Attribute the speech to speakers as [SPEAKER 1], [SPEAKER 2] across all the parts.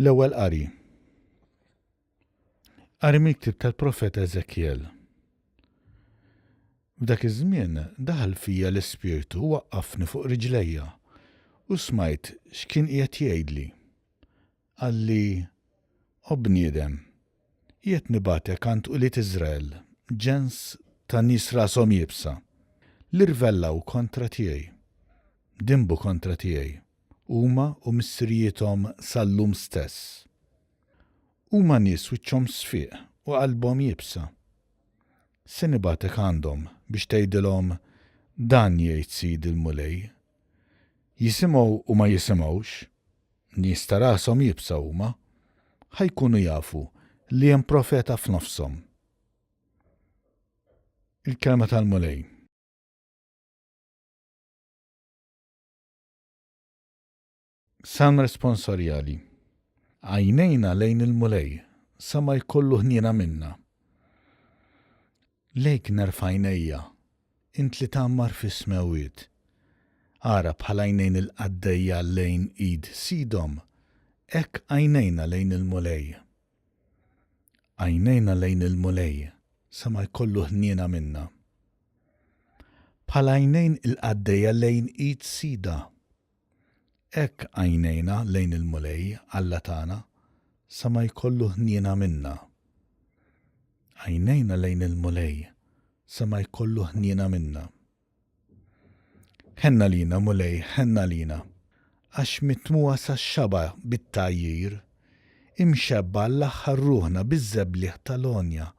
[SPEAKER 1] L-ewwel qari. Qari miktib tal-profeta Eżekjel. F'dak iż-żmien daħal fija l-Ispirtu u waqqafni fuq riġlejja u smajt x'kien qiegħed jgħidli. Qalli, O bniedem, qiegħed nibgħatek għand ulied Israel, ġens ta' nies rashom iebsa, li rvellaw kontra tiegħi, dinbu kontra tiegħi, huma u missirijiethom sal-lum stess. Huma nies wiċċhom sfiq u qalbhom iebsa. Se nibgħatek għandhom biex tgħidilhom, 'Dan jgħid Sidi l-Mulej, Jisimgħu u ma jisimgħux, nies ta' rashom iebsa huma, ħa jkunu jafu li hemm profeta f'nofshom. Il-Kelma tal-Mulej. Salm Responsorjali Għajnejna lejn il-Mulej, sa ma jkollu ħniena minna. Lejk nerfa' għajnejja, int li tgħammar fis-smewwiet. Ara bħal għajnejn il-qaddejja lejn id sidhom, hekk għajnejna lejn il-Mulej. Għajnejna lejn il-Mulej, sa ma jkollu ħniena minna. Bħal għajnejn il-qaddejja lejn id sidha. Hekk għajnejna lejn il-Mulej, Alla tagħna, sa ma jkollu ħniena minna. Għajnejna lejn il-Mulej, sa ma jkollu ħniena minna. Ħenn għalina, Mulej, ħenn għalina, għax mitmugħa sax-xaba' bit-tgħajjir, imxebbgħa għall-aħħar ruħna biż-żebligħ tal-għonja,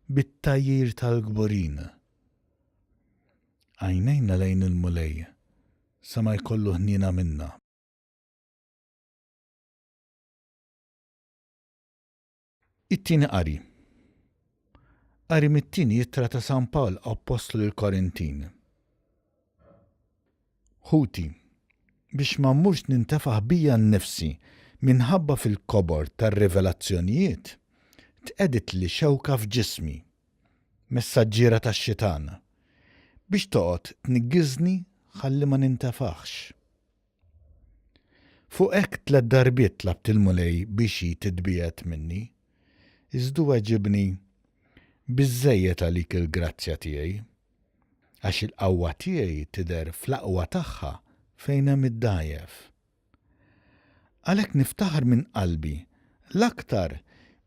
[SPEAKER 1] bit-tgħajjir tal-kburin. Għajnejna lejn il-Mulej, Sa ma jkollu ħniena minna. It-Tieni Qari Qari mit-Tieni Ittra ta' San Pawl Appostlu lill-Korintin Ħuti, biex ma mmurx nintefaħ bija nnifsi minħabba fil-kobor tar-rivelazzjonijiet, tqegħditli xewka f'ġismi, messaġġiera tax-xitan, biex toqgħod tniggiżni ħalli ma nintefaħx. Fuq hekk tliet darbiet tlabt il-Mulej biex hi titbiegħed minni, iżd hu weġibni, Biżżejjed għalik il-grazzja tiegħi, għax il-qawwa tiegħi tidher fl-aqwa tagħha fejn hemm id-dgħajjef. Għalhekk niftaħar minn qalbi, l-aktar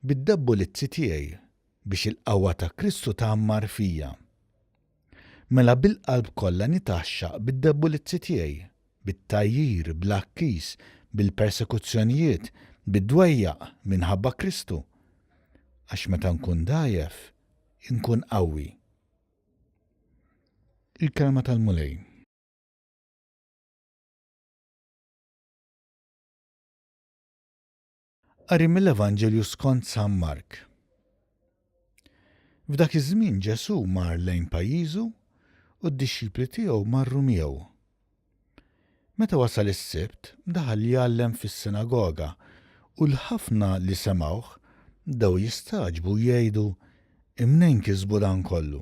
[SPEAKER 1] bid-debbolizzi tiegħi, biex il-qawwa ta' Kristu tgħammar fija. Mela bil-qalb kollha nitgħaxxaq bid-debbolizzi tiegħi, bit-tgħajjir, bl-għakkis, bil-persekuzzjonijiet, bid-dwejjaq, minħabba Kristu. Għax meta nkun dgħajjef, inkun qawwi. Il-Kelma tal-Mulej. Qari mill-Evanġelju skont San Mark. F'dak iż-żmien Ġesù mar lejn pajjiżu u d-dixxipli tiegħu marru miegħu. Meta wasal is-Sibt, daħal jgħallem fis-sinagoga u l-ħafna li semgħuh bdew jistagħġbu u jgħidu, Imnejn kisbu dan kollu?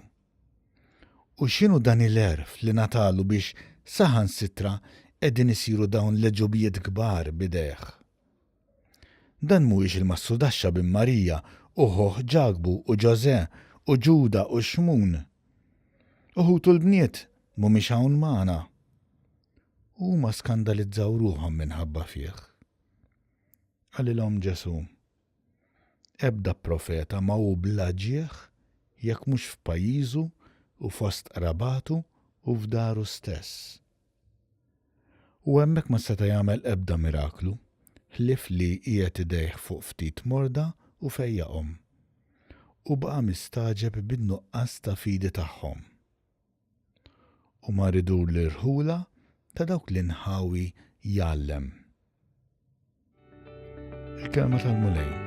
[SPEAKER 1] U x'inhu dan il-għerf li ngħatalu biex saħansitra qegħdin isiru dawn l-għeġubijiet kbar b'idejh? Dan mhuwiex il-massudaxxa bin Marija u ħuh Ġakbu u Ġożè u Ġuda u Xmun? U ħutu l-bniet mhumiex hawn magħna? U huma skandalizzaw ruħhom minħabba fih. Qalilhom Ġesù. Ebda profeta ma hu bla ġieħ jekk mhux f'pajjiżu u fost qrabatu u f'daru stess. U hemmhekk ma seta' jagħmel ebda miraklu, ħlief li qiegħed idejh fuq ftit morda u fejjaqhom. U baqa' mistagħġeb bin-nuqqas ta' fidi tagħhom. u mar idur l-irħula ta' dawk l-inħawi jgħallem. Il-kelma tal-Mulej.